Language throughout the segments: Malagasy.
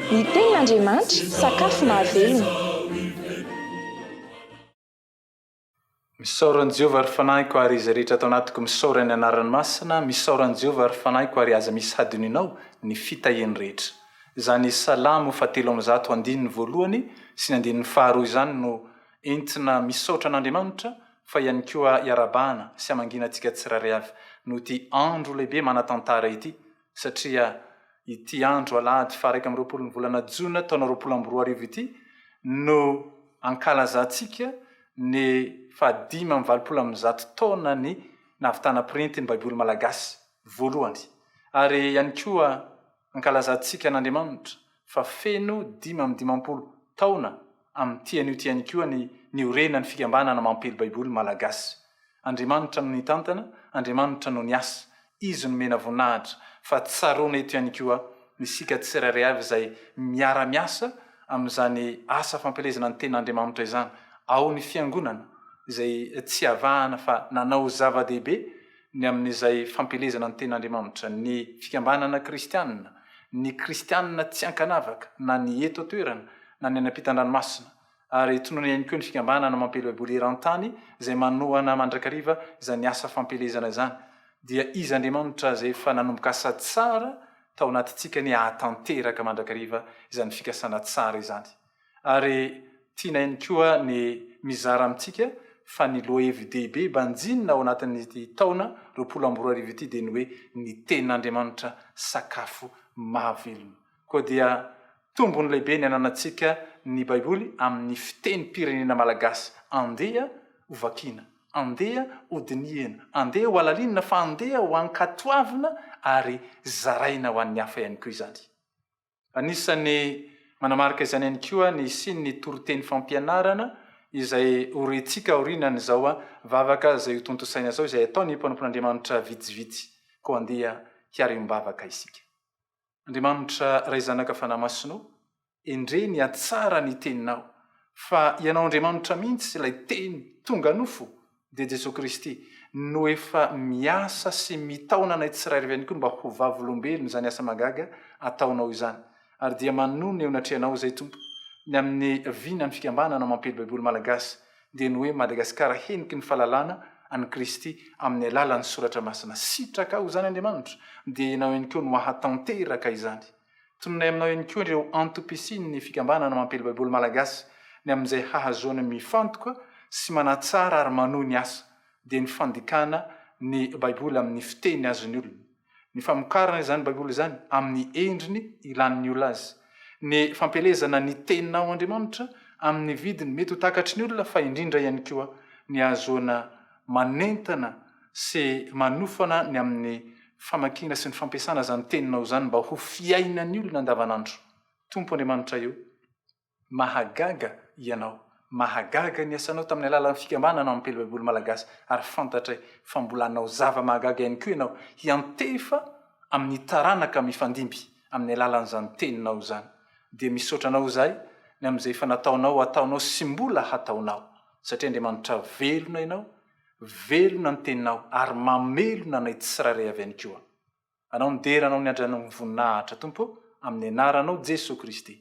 Ny tenin' Andriamanitra, sakafo mahavelona. Misaora an'i Jehovah ry fanahiko ary izay rehetra ato anatiko misaora ny anarany masina, misaora an'i Jehovah ry fanahiko ary aza misy hadinoinao ny fitahiany rehetra. Izany Salamo fahatelo amby zato andininy voalohany sy ny andininy faharoa izany no entina misaotra an'Andriamanitra fa ihany koa iarahabahana sy hamangiana antsika tsirairay avy noho ity andro lehibe manan-tantara ity. satria ity andro alahady faha-iraika amby roapolon'ny volana jona taona roapolo amby roa arivo ity no ankalazantsika ny fahadimy amby valopolo amin'ny zato taona ny nahavitana pirinty ny Baiboly malagasy voalohany ary ihany koa ankalazantsika an'Andriamanitra fa feno dimy amby dimampolo taona amin'ity anio ity ihany koa ny niorenan'ny fikambanana Mampely Baiboly Malagasy. Andriamanitra no nitantana, Andriamanitra no niasa, Izy no mena voninahitra, fa tsaroana eto ihany koa isika tsirairay avy izay miara-miasa amin'izany asa fampielezana ny Tenin'Andriamanitra izany, ao ny Fiangonana izay tsy avahana fa nanao zava-dehibe, ny amin'izay fampielezana ny Tenin'Andriamanitra, ny fikambanana kristianina, ny kristianina tsy ankanavaka, na ny eto an-toerana, na ny any am-pitan-dranomasina. Ary tononina ihany koa ny fikambanana mampely Baiboly eran-tany, izay manohana mandrakariva izany asa fampielezana izany. Dia Izy Andriamanitra izay efa nanomboka asa tsara tao anatintsika anie hahatanteraka mandrakariva izany fikasana tsara izany. ary tiana ihany koa ny mizara amintsika fa ny lohahevi-dehibe banjinina ao anatin'ity taona roapolo amby roa arivo ity dia ny hoe ny Tenin'Andriamanitra sakafo mahavelona. Koa dia tombony lehibe ny ananantsika ny Baiboly amin'ny fitenim-pirenena malagasy. Andeha ho vakiana, andeha ho dinihina, andeha ho halalinina fa andeha ho ankatoavina ary zaraina ho an'ny hafa ihany koa izany. Anisan'ny manamarika izany ihany koa ny hisian'ny toriteny fampianarana izay ho rentsika aorianan'izao vavaka izay hotontosaina izao izay ataon'ny mpanompon'Andriamanitra vitsivitsy. Koa andeha hiariam-bavaka isika. Andriamanitra Ray Zanaka Fanahy Masina o, endrey ny hatsara ny Teninao fa Ianao Andriamanitra mihitsy ilay Teny tonga nofo dia Jesoa Kristy no efa miasa sy mitaona anay tsirairy avy ihany koa mba ho vavolombelon' izany asa mahagaga ataonao izany. Ary dia manonona eo anatrehanao izay Tompo, ny amin' ny vinan' ny fikambanana mampely Baiboly malagasy, dia ny hoe Madagasikara heniky ny fahalalana an' i Kristy amin' ny alalan' ny Soratra Masina. Sitrakao izany Andriamanitra, dia ianao ihany koa no hahatanteraka izany. Tononay aminao ihany koa ireo antom-pisian'ny fikambanana mampiely Baiboly malagasy, ny amin'izay hahazoana mifantoka sy manatsara ary manohy ny asa, dia ny fandikana ny Baiboly amin'ny fiteny azon'ny olona, ny famokarana izany Baiboly izany amin'ny endriny ilàn'ny olona azy, ny fampielezana ny Teninao Andriamanitra amin'ny vidiny mety ho takatry ny olona fa indrindra ihany koa ny hahazoana manentana sy manofana ny amin'ny famakiana sy ny fampiasana izany teninao izany mba ho fiainan'ny olona andavanandro. Tompo Andriamanitra io, mahagaga Ianao, mahagaga ny asanao tamin'ny alalan'ny fikambanana Mampely Baiboly Malagasy ary fantatray fa mbola hanao zava-mahagaga ihany koa Ianao hiantefa amin'ny taranaka mifandimby amin'ny alalan'izany teninao izany. Dia misaotra Anao izahay ny amin'izay efa nataonao, ataonao sy mbola hataonao satria Andriamanitra velona Ianao Velona ny teninao ary mamelona anay tsirairay avy any koa. Anao ny dera anao ny andry anao ny voninahitra Tompo amin'ny anaranao Jesoa Kristy.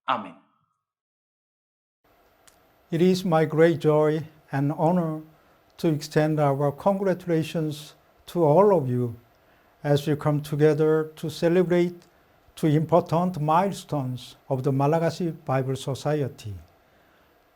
Amen. It is my great joy and honor to extend our congratulations to all of you as you come together to celebrate two important milestones of the Malagasy Bible Society.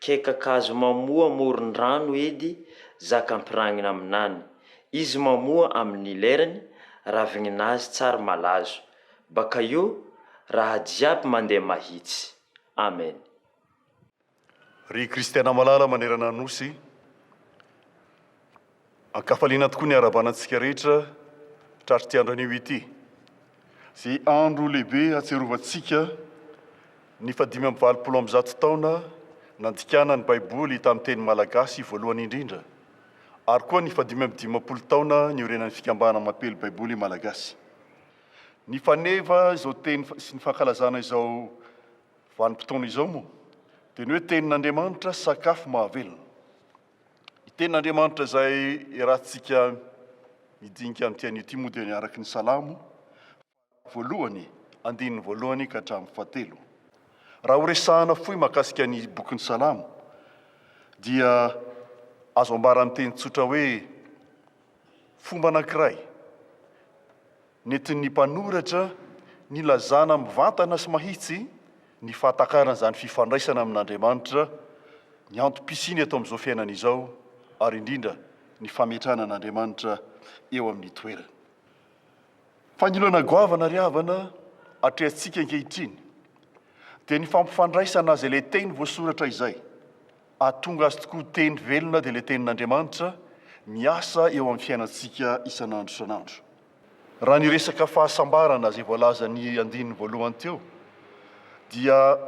Kekakazo mamoa amoron-drano edy zaka ampiragnina aminany. Izy mamoa amin'ny lerany, ravigninazy tsary malazo. Baka io, raha jiaby mandeha mahitsy. Amen. Ry Kristiana malala manerana ny Nosy. An-kafaliana tokoa ny iarahabana antsika rehetra tratr'ity andro anio ity, izay andro lehibe hahatsiarovantsika ny fahadimy amby valopolo amby zato taona nandikana ny Baiboly tamin'ny teny malagasy voalohany indrindra, ary koa ny fahadimy amby dimampolo taona niorenan'ny Fikambana Mampiely Baiboly Malagasy. Ny faneva izao teny sy ny fankalazana izao vanim-potoana izao moa dia ny hoe Tenin'Andriamanitra, sakafo mahavelona. Ny tenin'Andriamanitra izay iarahantsika midinika amin'ity anio ity moa dia ny araka ny Salamo voalohany andininy voalohany ka hatramin'ny fahatelo. Raha horesahana fohy mahakasika ny bokin'ny Salamo dia azo ambara amin'ny teny tsotra hoe fomba anankiray Nentin'ny mpanoratra nilazana mivantana sy mahitsy ny fahatakaran'izany fifandraisana amin'Andriamanitra, ny antom-pisiany eto amin'izao fiainana izao, ary indrindra ny fametrahana an'Andriamanitra eo amin'ny toerany. Fa ny olana goavana ry havana atrehantsika ankehitriny dia ny fampifandraisana azy ilay teny voasoratra izay. Ahatonga azy tokoa teny velona dia ilay Tenin'Andriamanitra miasa eo amin'ny fiainantsika isan'andro isan'andro. Raha ny resaka fahasambarana izay voalazan'ny andininy voalohany teo dia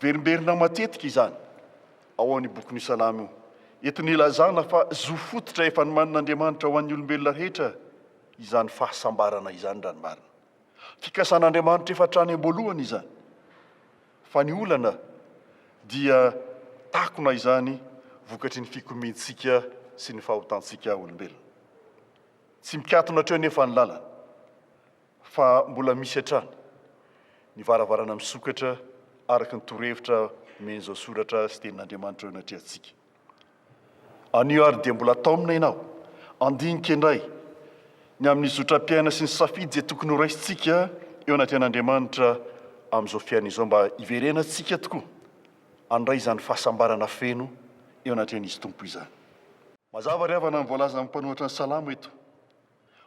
verimberina matetika izany ao amin'ny bokin'ny Salamo. Eto ny ilazana fa zo fototra efa nomanin'Andriamanitra ho an'ny olombelona rehetra izany fahasambarana izany raha ny marina. Fikasan'Andriamanitra efa hatrany am-boalohany izany. Fa ny olana dia takona izany vokatry ny fikomiantsika sy ny fahotantsika olombelona. Tsy mikatona hatreo anefa ny lalana fa mbola misy hatrany ny varavarana misokatra araka ny torohevitra omen'izao soratra sy tenin'Andriamanitra eo anatrehantsika. Anio ary dia mbola taomina ianao. Handinika indray ny amin'ny zotram-piaina sy ny safidy izay tokony horaisintsika eo anatrehan'Andriamanitra amin'izao fiainana izao mba hiverenantsika tokoa handray izany fahasambarana feno eo anatrehan'Izy Tompo izany. Mazava ry havana ny voalazan'ny mpanoratra ny Salamo eto.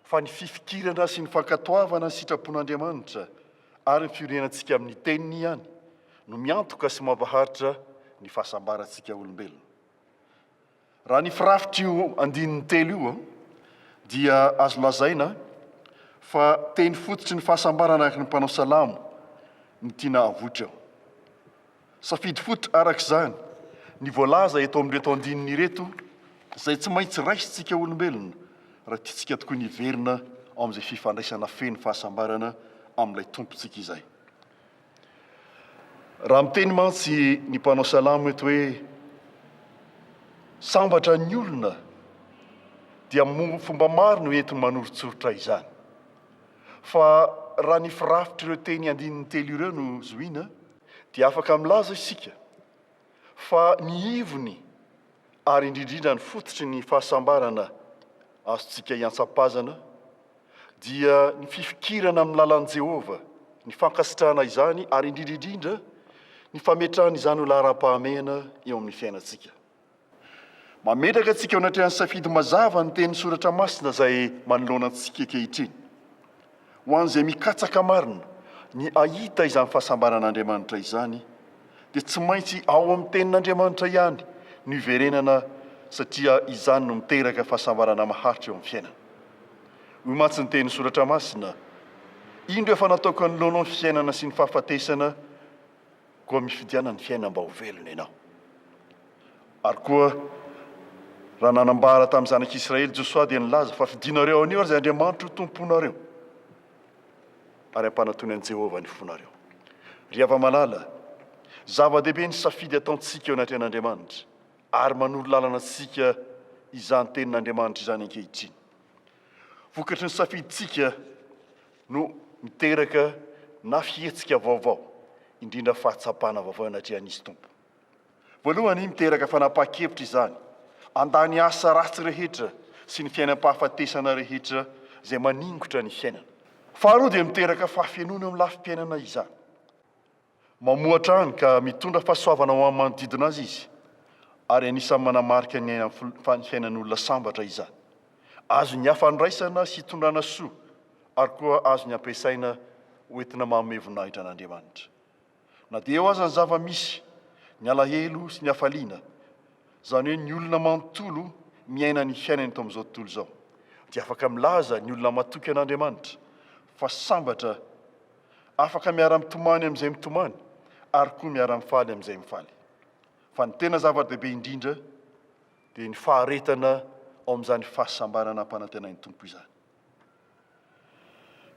fa ny fifikirana sy ny fankatoavana ny sitrapon'Andriamanitra ary ny fiorenantsika amin'ny Teniny ihany no miantoka sy mampaharitra ny fahasambarantsika olombelona. Raha ny firafitr'io andininy telo io dia azo lazaina fa teny fototry ny fahasambarana araka ny mpanao salamo ny tiana havoitra eo. Safidy fototra araka izany ny voalaza eto amin'ireto andininy ireto izay tsy maintsy raisintsika olombelona raha tiantsika tokoa ny hiverina ao amin'izay fifandraisana feno fahasambarana amin'ilay Tompontsika izay. Raha miteny mantsy ny mpanao salamo eto hoe sambatra ny olona dia fomba maro no entiny manoritsoritra izany. Fa raha ny firafitr'ireo teny andininy telo ireo no zohina, dia afaka milaza isika fa ny ivony ary indrindrindra ny fototry ny fahasambarana azontsika iantsapazana dia ny fifikirana amin'ny lalan'i Jehovah, ny fankasitrahana izany ary indrindra indrindra ny fametrahana izany ho laharam-pahamehana eo amin'ny fiainantsika. Mametraka antsika eo anatrehan'ny safidy mazava ny tenin'ny Soratra Masina izay manoloana antsika ankehitriny. Ho an'izay mikatsaka marina ny hahita izany fahasambaran'Andriamanitra izany, dia tsy maintsy ao amin'ny Tenin'Andriamanitra ihany no iverenana satria izany no miteraka fahasambarana maharitra eo amin'ny fiainana. Hoy mantsy ny tenin'ny Soratra Masina, Indro efa nataoko anoloanao ny fiainana sy ny fahafatesana, Koa mifidiana ny fiainana mba ho velona ianao. Ary koa raha nanambara tamin'ny zanak'Israely Josoa dia nilaza fa fidinareo anio ary izay Andriamanitro ho tomponareo ary ampanatony an'i Jehovah ny fonareo. Ry hava-malala, zava-dehibe ny safidy ataontsika eo anatrehan'Andriamanitra ary manoro lalana antsika izany tenin'Andriamanitra izany ankehitriny. Vokatry ny safidintsika no miteraka na fihetsika vaovao indrindra fahatsapana vaovao anatrehan'Izy Tompo. Voalohany, miteraka fanapahan-kevitra izany andà ny asa ratsy rehetra sy ny fiainam-pahafatesana rehetra izay maningotra ny fiainana. Faharoa dia miteraka fahafenoana amin'ny lafim-piainana izany. Mamohatra any ka mitondra fahasoavana ho amin'ny manodidina azy izy, ary anisan'ny manamarika ny ainan'ny fiainan'olona sambatra izany. Azon'ny hafa andraisana sy itondrana soa, ary koa azony ampiasaina ho entina manome voninahitra an'Andriamanitra. Na dia eo aza ny zava-misy, ny alahelo sy ny hafaliana, izany hoe ny olona manontolo miaina ny fiainany eto amin'izao tontolo izao, dia afaka milaza ny olona matoky an'Andriamanitra fa sambatra, Afaka miara-mitomany amin'izay mitomany ary koa miara-mifaly amin'izay mifaly. Fa ny tena zava-dehibe indrindra dia ny faharetana ao amin'izany fahasambarana ampanantenain'ny Tompo izany.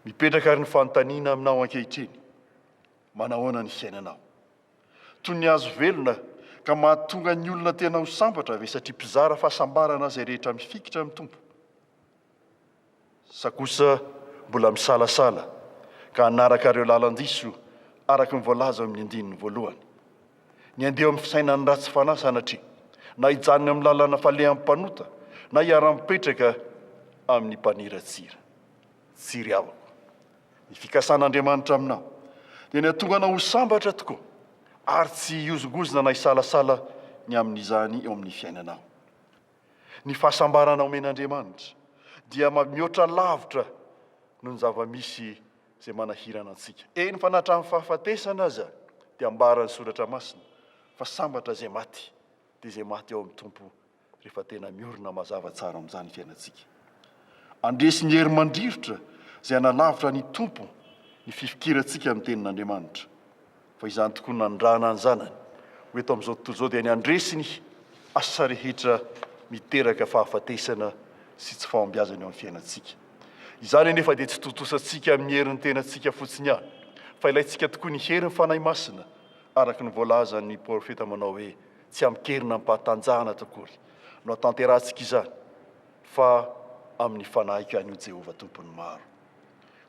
Mipetraka ary ny fanontaniana aminao ankehitriny, manahoana ny fiainanao? Toy ny hazo velona ka mahatonga ny olona tena ho sambatra ve satria mpizara fahasambarana izay rehetra mifikitra amin'ny Tompo? sa kosa mbola misalasala ka hanaraka ireo lalan-diso araka ny voalaza ao amin'ny andininy voalohany? Ny handeha eo amin'ny fisainan'ny ratsy fanahy sanatria na hijanona eo amin'ny lalana falehan'ny mpanota na hiara-mipetraka amin'ny mpaniratsira. Tsy ry havako, ny fikasan'Andriamanitra aminao dia ny hahatonga anao ho sambatra tokoa ary tsy hihozongozona na hisalasala ny amin'izany eo amin'ny fiainanao. Ny fahasambarana omen'Andriamanitra dia mihoatra lavitra noho ny zava-misy izay manahirana antsika. Eny fa na hatramin'ny fahafatesana aza dia ambaran'ny Soratra Masina fa sambatra izay maty dia izay maty ao amin'ny Tompo rehefa tena miorina mazava tsara amin'izany fiainantsika. Andresy ny hery mandrirotra izay hanalavitra ny Tompo ny fifikirantsika ny Tenin'Andriamanitra. fa izany tokoa no nandrana ny zanany ho eto amin'izao tontolo izao dia ny handresy ny asa rehetra miteraka fahafatesana sy tsy fahombiazana eo amin'ny fiainantsika. Izany anefa dia tsy tontosantsika amin'ny herin'ny tenantsika fotsiny ihany, fa ilaintsika tokoa ny herin'ny Fanahy Masina, araka ny voalazan'ny profeta manao hoe, Tsy amin-keriny amim-pahatanjahana akory no atanterahantsika izany, fa amin'ny fanahiko ihany, hoy Jehovah Tompon'ny maro.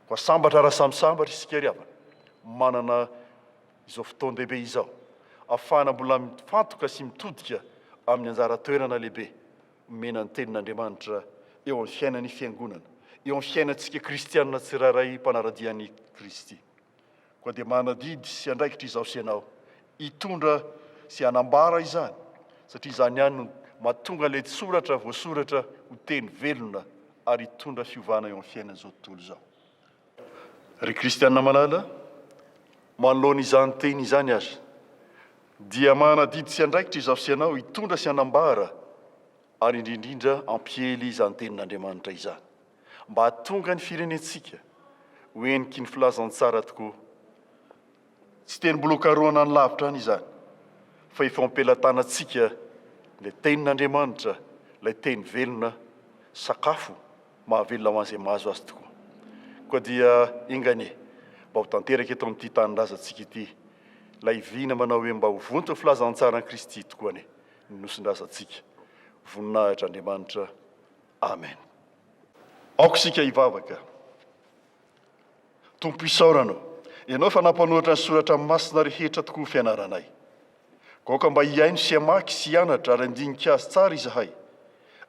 Koa sambatra raha samy sambatra isika ry havana manana izao fotoan-dehibe izao afahana mbola mifantoka sy mitodika amin'ny anjara toerana lehibe omena ny Tenin'Andriamanitra eo amin'ny fiainan'ny Fiangonana, eo amin'ny fiainantsika kristiana tsirairay mpanara-dia an'i Kristy. Koa dia manadidy sy andraikitra izaho sy ianao hitondra sy hanambara izany, satria izany ihany no mahatonga ilay soratra voasoratra ho teny velona ary hitondra fiovana eo amin'ny fiainan'izao tontolo izao. Ry kristiana malala, manoloana izany teny izany aza, dia manadidy sy andraikitra izaho sy ianao hitondra sy hanambara ary indrindra hampiely izany tenin'Andriamanitra izany. mba hahatonga ny firenentsika ho heniky ny filazantsara tokoa. Tsy tenimbolokarohana any lavitra any izany fa efa ao am-pelatanantsika ilay Tenin'Andriamanitra, ilay Teny velona, sakafo mahavelona ho an'izay mahazo azy tokoa. Koa dia enga anie mba ho tanteraka eto amin'ity tanindrazantsika ity ilay vina manao hoe mba ho vonton'ny filazantsaran'i Kristy tokoa anie ny nosin-drazantsika. Voninahitra Andriamanitra. Amen. Aoka isika hivavaka. Tompo isaorana Anao, Ianao efa nampanoratra ny soratra masina rehetra tokoa fianaranay. Koa aoka mba hihaino sy hamaky sy hianatra ary handinika azy tsara izahay,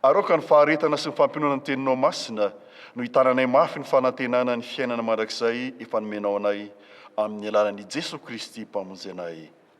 ary aoka ny faharetana sy ny fampinoana ny Teninao masina no hitananay mafy ny fanantenana ny fiainana mandrakizay efa nomenao anay amin'ny alalan'i Jesoa Kristy Mpamonjy anay.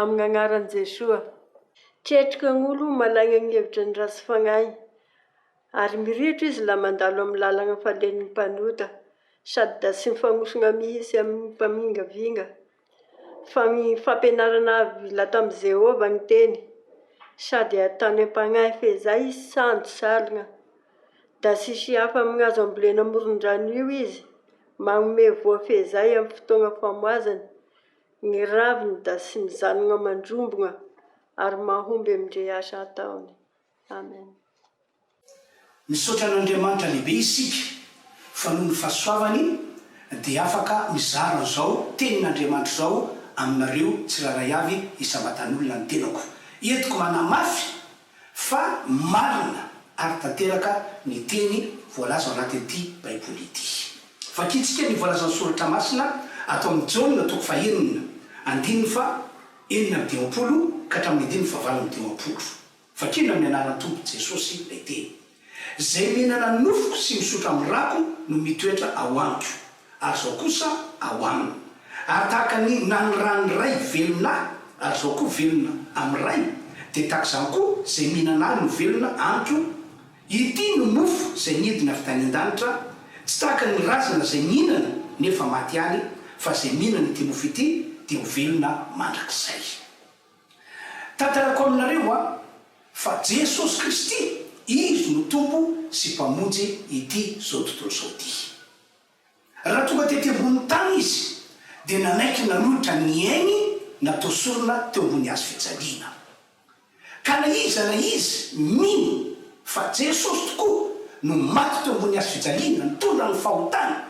Amn agnaran Jesoa. Ketrika agn'olo managna gny hevitra ny ratsy fagnahy, ary mirehitra izy laha mandalo amin'ny lalagna falen'ny mpanota, sady da tsy mifagnosogna mihitsy amin'ny mpamingavinga. Fa gny fampianarana avila tamin'i Jehovah gny teny, sady ataony am-pagnahy fehizay izy tsy sandry saligna. Da tsisy hafa amin'ny hazo ambolena amoron-drano io izy, magnomey voa fehizay amin'ny fotoagna famoazany, Ny raviny da sy ny zanogna mandrombogna ary mahomby amindre asa ataony. Amen. Misaotra an'Andriamanitra lehibe isika fa noho ny fahasoavany dia afaka mizara an'izao tenin'Andriamanitra izao aminareo tsirairay avy isam-batan'olona ny tenako. Entiko manamafy Fa marina ary tanteraka ny teny voalaza ao anatin'ity Baiboly ity. Vakintsika ny voalazan'ny Soratra Masina ato amin'ny Jaona toko fahenina, andininy faha enina amby dimampolo ka hatramin'ny andininy fahavalo amby dimampolo. Vakina amin'ny anaran'ny Tompo Jesosy ilay teny. Zay mihinana ny nofoko sy misotra amin'ny rako no mitoetra ao amiko, ary zao kosa ao aminy. Ary tahaka ny naniran'ny Ray velona ahy, ary zao koa velona amin'ny Ray, dia tahaka izany koa zay mihinana ahy no velona amiko. Ity no mofo zay nidina avy tany an-danitra, tsy tahaka ny razana zay mihinana nefa maty any, fa zay mihinana ity mofo ity dia ho velona mandrakizay. Tantarako aminareo an, fa Jesosy Kristy Izy no Tompo sy Mpamonjy ity zao tontolo zao ty. Raha tonga tety ambony tany Izy dia nanaiky nanolotra ny ainy natao sorona teo ambony hazo fijaliana. Ka na iza na iza mino fa Jesosy tokoa no maty teo ambony hazo fijaliana nitondra ny fahotana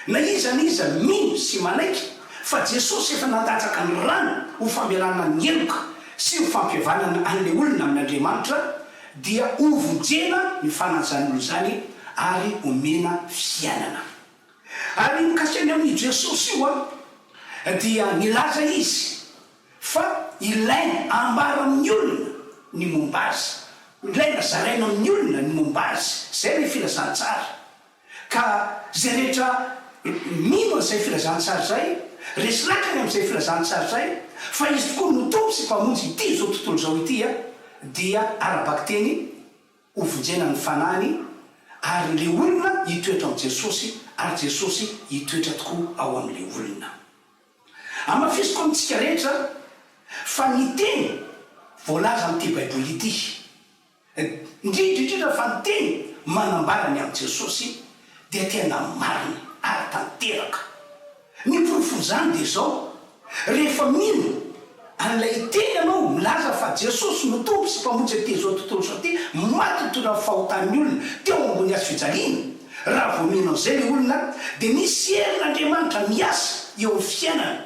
Na iza na iza mino sy manaiky fa Jesosy efa nandatsaka ny rany ho famelana ny heloka sy ho fampihavanana an'ilay olona amin'Andriamanitra dia hovonjena ny fanan'izany olona izany ary omena fiainana. Ary mikasika ny amin'io Jesosy io dia nilaza izy fa ilaina ambara amin'ny olona ny momba azy, ilaina zaraina amin'ny olona ny momba azy. Izay ilay filazantsara. Ka izay rehetra mino an'izay filazantsara izay, resy lakany amin'izay filazantsara izay, fa Izy tokoa no Tompo sy Mpamonjy ity izao tontolo izao ity, dia ara-bakiteny hovonjena ny fanahiny, ary ilay olona hitoetra amin'i Jesosy, ary Jesosy hitoetra tokoa ao amin'ilay olona. Hamafisiko amintsika rehetra fa ny teny voalaza amin'ity Baiboly ity. Indrindra indrindra fa ny teny manambara ny amin'i Jesosy dia tena marina ary tanteraka. Ny porofon'izany dia izao, rehefa mino an'ilay teny ianao milaza fa Jesosy no Tompo sy Mpamonjy aty izao tontolo izao ity, maty ho tolan'ny fahotan'ny olona teo ambony hazo fijaliana, raha vao mino an'izay ilay olona dia misy herin'Andriamanitra miasa eo amin'ny fiainany.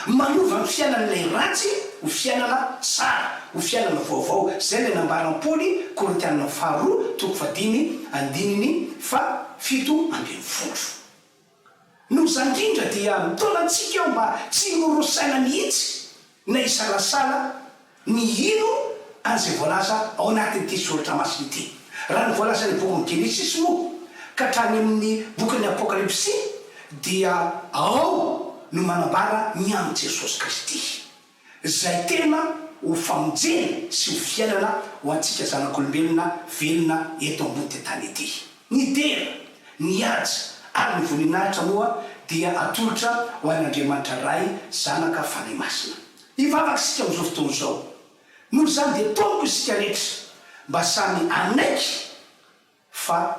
Manova ny fiainan'ilay ratsy ho fiainana tsara, ho fiainana vaovao. Izay ilay nambaran'i Paoly, Korintiana faharoa toko fahadimy, andininy fahafito ambin'ny folo. Noho izany indrindra dia mitaona antsika aho mba tsy horosaina mihitsy na hisalasala, Mihino an'izay voalaza ao anatin'ity soratra masina ity. Raha ny voalazan'ny bokin'ny Genesisy moa ka hatrany amin'ny bokin'ny Apokalypsy dia ao no manambara ny amin'i Jesosy Kristy, izay tena ho famonjena sy ho fiainana ho antsika zanak'olombelona velona eto ambon'ity tany ity. Ny dera, ny haja ary ny voninahitra moa dia atolotra ho an'Andriamanitra Ray, Zanaka, Fanahy Masina. Hivavaka isika amin'izao fotoana izao. Noho izany dia tompoko isika rehetra mba samy hanaiky fa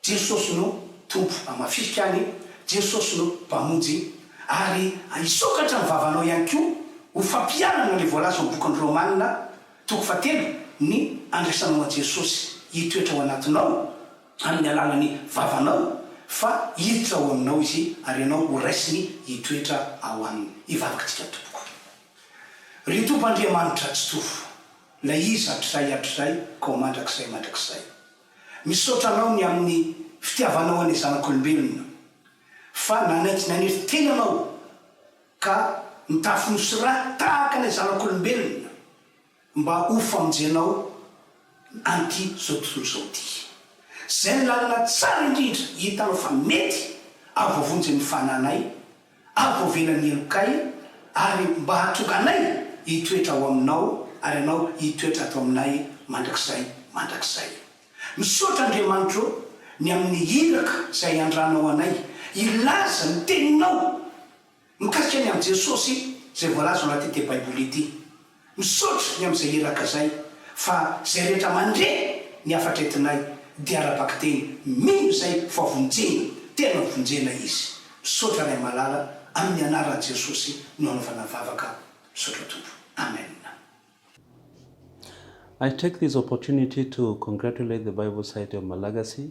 Jesosy no Tompo amin'ny maha fisika any, Jesosy no Mpamonjy, ary hisokatra ny vavanao ihany koa ho fampiharana ilay voalaza ao amin'ny bokin'ny Romana toko fahatelo ny andraisanao an'i Jesosy hitoetra ao anatinao, amin'ny alalan'ny vavanao, fa hiditra ao aminao izy, ary ianao ho raisiny hitoetra ao aminy. Hivavaktsika tompoko. Ry Tompo Andriamanitra Tsitovo, Ilay Izy hatrizay hatrizay k'ao mandrakizay mandrakizay. Misaotra Anao ny amin'ny fitiavanao anay zanak'olombelona, fa nanaiky nanery tena Anao ka nitafy nosy ra tahaka ilay zanak'olombelona, Mba ho famonjenao an'ity zao tontolo zao ity. Zay ny lalana tsara indrindra hitanao fa mety ary voavonjy amin'ny fananay ary voavelan'ny helokay ary mba hahatonga anay hitoetra ao aminao ary ianao hitoetra ato aminay mandrakizay mandrakizay. Misaotra Andriamanitro ny amin'ny iraka zay iandranao anay hilaza ny teninao. Mikasika ny amin'i Jesosy izay voalaza ao anatin'ity Baiboly ity. Misaotra ny amin'izay iraka izay fa izay rehetra mandre ny hafatra entinay dia ara-bakiteny mino izay fa vonjena, tena vonjena izy. Misaotra Ray malala amin'ny anaran'i Jesosy no anaovana vavaka. Misaotra Tompo. Amen. I take this opportunity to congratulate the Bible Society of Malagasy,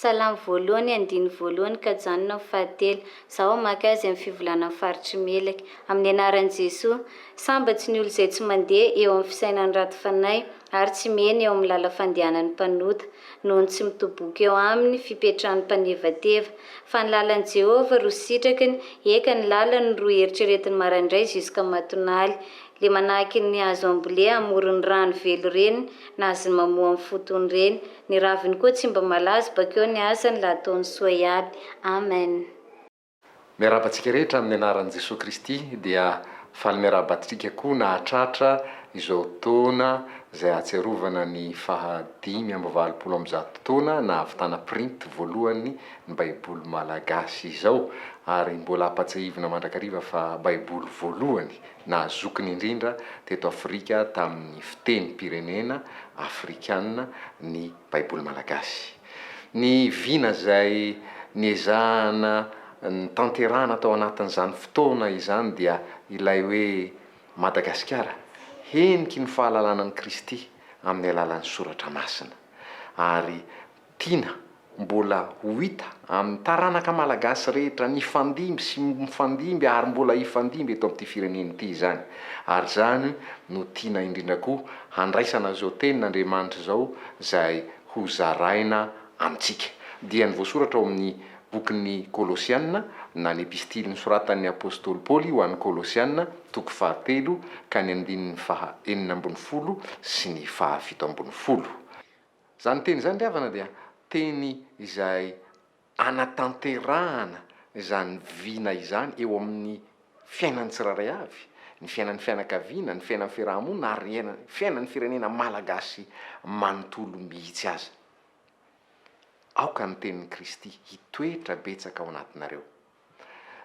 Salamo voalohany andininy voalohany ka janona ny fahatelo. Zaho hamaky azy amin'ny fivolanan'ny faritry Melaky. Amin'ny anaran'i Jesoa. Sambatry ny olo izay tsy mandeha eo amin'ny fisainan'ny raty fanahy ary tsy mihena eo amin'ny lala fandehanan'ny mpanota, noho ny tsy mitoboka eo aminy fipetrahan'ny mpanevateva. Fa ny lalan'i Jehovah ro sitrakiny, eka ny lalany ro eritreretiny marandray jusqu'à matonaly. Le manahaky ny hazo ambolea amoron'ny rano velo reny na azony mamoa amin'ny fotony reny. Ny raviny koa tsy mba malazo bakeo ny asany la ataony soa iaby. Amen. Miarahaba antsika rehetra amin'ny anaran'i Jesoa Kristy dia faly miarahaba antsika koa nahatratra izao taona izay ahatsiarovana ny faha dimy amby valopolo amby zato taona nahavitana printy voalohany ny baiboly malagasy izao ary mbola ampatsiahivina mandrakariva fa baiboly voalohany Nahazokiny indrindra teto Afrika tamin'ny fitenim-pirenena afrikana ny Baiboly malagasy. Ny vina izay niezahana nitanterahana tao anatin'izany fotoana izany dia ilay hoe Madagasikara, heniky ny fahalalana an'i Kristy amin'ny alalan'ny soratra masina. Ary. Tiana mbola ho hita amin'ny taranaka malagasy rehetra nifandimby sy mifandimby ary mbola hifandimby eto amin'ity firenena ity izany. Ary izany no tiana indrindra koa handraisana izao tenin'Andriamanitra izao izay ho zaraina amintsika. Dia ny voasoratra ao amin'ny bokin'ny Kolosiana na ny epistily nosoratan'ny apostoly Paoly ho an'ny Kolosiana, toko fahatelo ka ny andininy faha enina ambin'ny folo sy ny faha fito ambin'ny folo. Izany teny izany ry havana dia teny izay anatanterahana izany vina izany eo amin'ny fiainan'ny tsirairay avy, ny fiainan'ny fianakaviana, ny fiainan'ny fiaraha-monina ary ny fiainan'ny firenena malagasy manontolo mihitsy aza. Aoka ny tenin'i Kristy hitoetra betsaka ao anatinareo.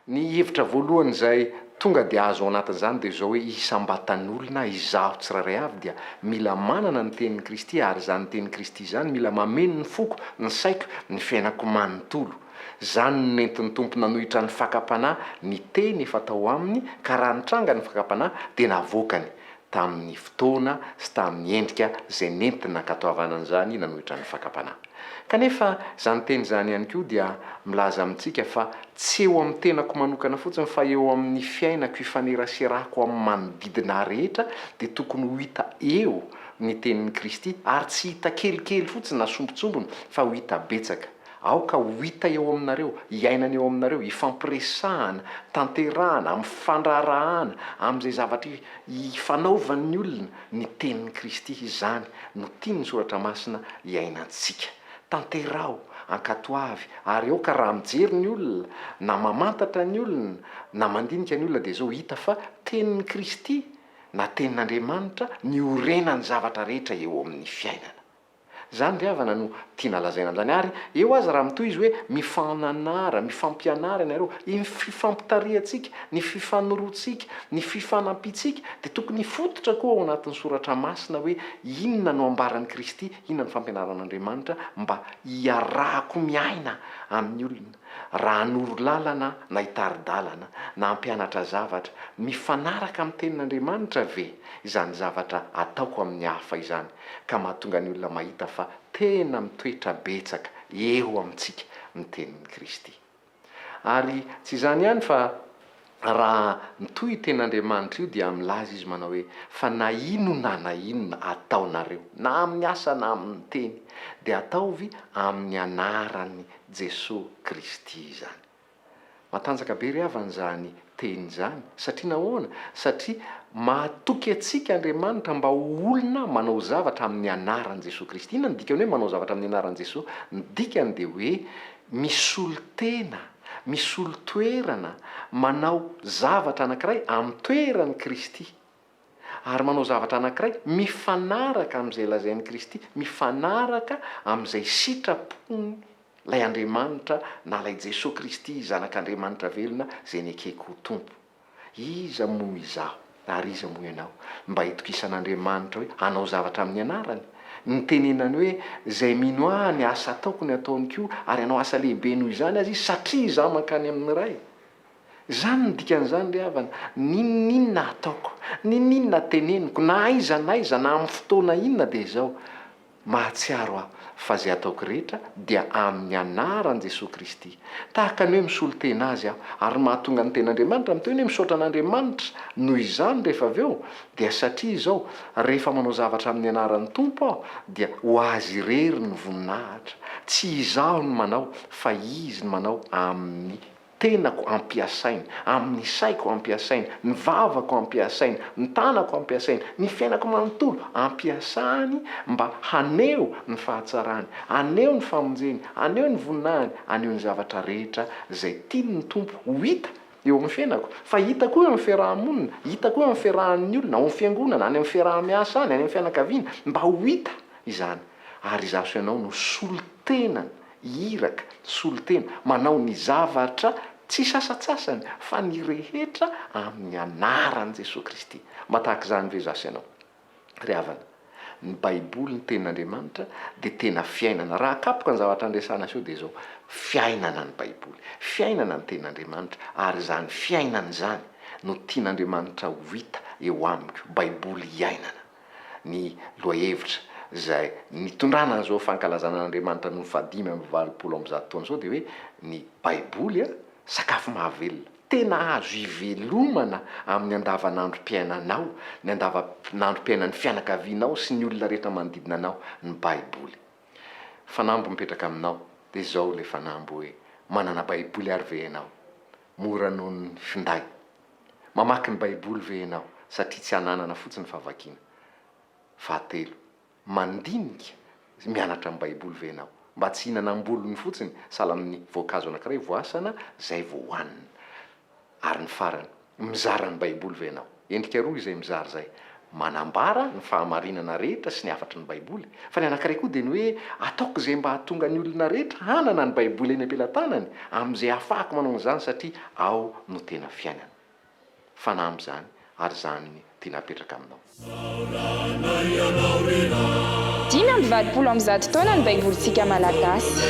Ny hevitra voalohany izay tonga dia azo ao anatin'izany dia izao hoe isam-batan'olona izaho tsirairay avy dia mila manana ny tenin'i Kristy ary izany tenin'i Kristy izany mila mameno ny foko, ny saiko, ny fiainako manontolo. Izany no nentin'ny Tompo nanohitra ny fakam-panahy ny teny efa tao aminy ka raha nitranga ny fakam-panahy dia navoakany tamin'ny fotoana sy tamin'ny endrika izay nenti-nankatoavana an'izany nanohitra ny fakam-panahy. Kanefa, izany teny izany ihany koa dia milaza amintsika fa tsy eo amin'ny tenako manokana fotsiny fa eo amin'ny fiainako ifaneraserako amin'ny manodidina ahy rehetra dia tokony ho hita eo ny tenin'i Kristy ary tsy hita kelikely fotsiny na sombintsombiny fa ho hita betsaka Aoka ho hita eo aminareo, iainana eo aminareo, ifampiresahana, tanterahana, amifandra-harahana amin'izay zavatra ifanaovan'ny olona ny tenin'i Kristy, izany no tian'ny Soratra Masina iainantsika. Tanteraho, ankatoavy, ary aoka raha mijery ny olona, na mamantatra ny olona, na mandinika ny olona dia izao hita fa tenin'i Kristy, na tenin'Andriamanitra, ny orenan'ny zavatra rehetra eo amin'ny fiainana. Izany ry havana no tiana lazaina an'izany. Ary eo aza raha mitohy izy hoe mifananara, mifampianara ianareo. Iny fifampitarihantsika, ny fifanoroantsika, ny fifanampiantsika dia tokony hifototra koa ao anatin'ny soratra masina hoe inona no ambaran'i Kristy, inona no fampianaran'Andriamanitra mba hiarahako miaina amin'ny olona raha hanoro lalana na hitari-dalana na hampianatra zavatra. Mifanaraka amin'ny tenin'Andriamanitra ve izany zavatra ataoko amin'ny hafa izany? ka mahatonga ny olona mahita fa tena mitoetra betsaka eo amintsika ny tenin'i Kristy. Ary tsy izany ihany fa raha mitohy io tenin'Andriamanitra io dia milaza izy manao hoe, Fa na inona na inona ataonareo, na amin'ny asa na amin'ny teny, dia ataovy amin'ny anaran'i Jesoa Kristy izany. Matanjaka be ry havana izany teny izany. Satria nahoana? Satria mahatoky antsika Andriamanitra mba ho olona manao zavatra amin'ny anaran'i Jesoa Kristy. Inona no dikan'ny hoe manao zavatra amin'ny anaran'i Jesoa? Ny dikany dia hoe misolo tena, misolo toerana, manao zavatra anankiray amin'ny toeran'i Kristy. ary manao zavatra anankiray mifanaraka amin'izay lazain'i Kristy, mifanaraka amin'izay sitrapon'ilay Andriamanitra na ilay Jesoa Kristy Zanak'Andriamanitra velona izay nekeko ho Tompo. Iza moa izaho ary iza moa ianao mba hitokisan'Andriamanitra hoe hanao zavatra amin'ny anarany? Nitenenany hoe, Izay mino ahy, ny asa ataoko no ataony koa, ary hanao asa lehibe noho izany aza izy, satria izaho mankany amin'ny Ray. Izany no dikan'izany ry havana, n'inon'inona ataoko, n'inon'inona teneniko, na aiza n'aiza, na amin'ny fotoana inona dia izao, mahatsiaro aho fa izay ataoko rehetra dia amin'ny anaran'i Jesoa Kristy. Tahaka ny hoe misolo tena Azy aho, ary ny mahatonga ny ten'Andriamanitra miteny hoe misaotra an'Andriamanitra noho izany rehefa avy eo, dia satria izao, rehefa manao zavatra amin'ny anaran'ny Tompo aho, dia ho Azy irery ny voninahitra. Tsy izaho no manao, fa Izy no manao amin'ny. tenako ampiasainy, amin'ny saiko ampiasainy, ny vavako ampiasainy, ny tanako ampiasainy, ny fiainako manontolo ampiasany mba haneho ny fahatsarany, haneho ny famonjeny, haneho ny voninahiny, haneho ny zavatra rehetra izay tiany ny Tompo ho hita eo amin'ny fiainako, fa hita koa eo amin'ny fiaraha-monina, hita koa eo amin'ny fiarahan'ny olona, ao amin'ny fiangonana, any amin'ny fiaraha-miasa any, any amin'ny fianakaviana, mba ho hita izany, ary izaho sy ianao no solontenany. iraka, solontena, manao ny zavatra tsy sasatsasany fa ny rehetra amin'ny anaran'i Jesoa Kristy. Mba tahaka izany ve izaho sy ianao? Ry havana, ny Baiboly, ny Tenin'Andriamanitra, dia tena fiainana. Raha akapoka ny zavatra andresana aseho dia izao, fiainana ny Baiboly, fiainana ny Tenin'Andriamanitra, ary izany fiainana izany no tian'Andriamanitra ho hita eo amiko, Baiboly iainana. ny lohahevitra izay nitondrana an'izao fankalazana an'Andriamanitra noho ny fahadimy amby valopolo amby zato taona izao dia hoe ny Baiboly a, sakafo mahavelona. Tena azo ivelomana amin'ny andavanandrom-piainanao, ny andavanandrom-piainan'ny fianakavianao sy ny olona rehetra manodidina anao ny Baiboly. Fanamby mipetraka aminao dia izao ilay fanamby hoe, manana Baiboly ary ve ianao? Mora noho ny finday. Mamaky ny Baiboly ve ianao satria tsy ananana fotsiny fa vakiana? Fahatelo, mandinika sy mianatra ny Baiboly ve ianao mba tsy hihinana am-bolony fotsiny sahala amin'ny voankazo anankiray voasana izay vao hohanina? Ary ny farany, mizara ny Baiboly ve ianao? Endrika roa izay mizara izay, manambara ny fahamarinana rehetra sy ny hafatry ny Baiboly, fa ny anankiray koa dia ny hoe ataoko izay mba hahatonga ny olona rehetra hanana ny Baiboly eny am-pelatanany amin'izay hahafahako manao an'izany satria ao no tena fiainana. Fanahy amin'izany ary izany ny tiana hapetraka aminao. Dimy amby valopolo amby zato taona ny Baibolintsika Malagasy.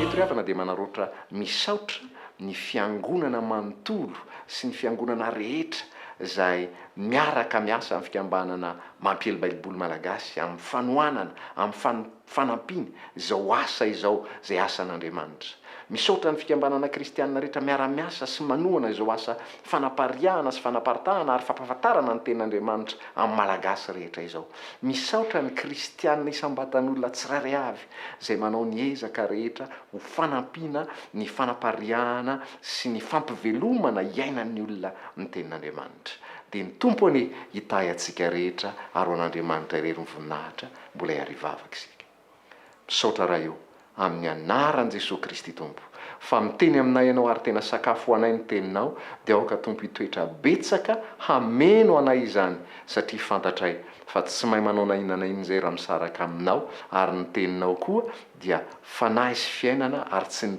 Eto ry havana dia manaraotra misaotra ny fiangonana manontolo sy ny fiangonana rehetra izay miaraka miasa amin'ny fikambanana Mampiely Baiboly Malagasy amin'ny fanohanana, amin'ny fanampiana izao asa izao izay asan'Andriamanitra. Misaotra ny fikambanana kristianina rehetra miara-miasa sy manohana izao asa fanapariahana sy fanaparitahana ary fampahafantarana ny Tenin'Andriamanitra amin'ny Malagasy rehetra izao. Misaotra ny kristianina isam-batan'olona tsirairay avy izay manao ny ezaka rehetra ho fanampiana ny fanapariahana sy ny fampivelomana iainan'ny olona ny Tenin'Andriamanitra. Dia ny Tompo anie hitahy antsika rehetra ary ho an'Andriamanitra irery ny voninahitra, mbola hiary hivavaka isika. Misaotra Ray o, amin'ny anaran'i Jesoa Kristy Tompo, fa miteny aminay Ianao ary tena sakafo ho anay ny Teninao, dia aoka Tompo hitoetra betsaka hameno anay izany, satria fantatray fa tsy mahay manao na inona na inona izay raha misaraka Aminao, ary ny Teninao koa dia Fanahy sy Fiainana ary tsy ny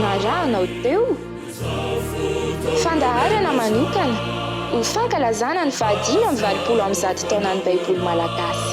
Narahanao teo? Fandaharana manokana ho fankalazana ny fahadimy amby valopolo amby zato taonan'ny Baiboly malagasy.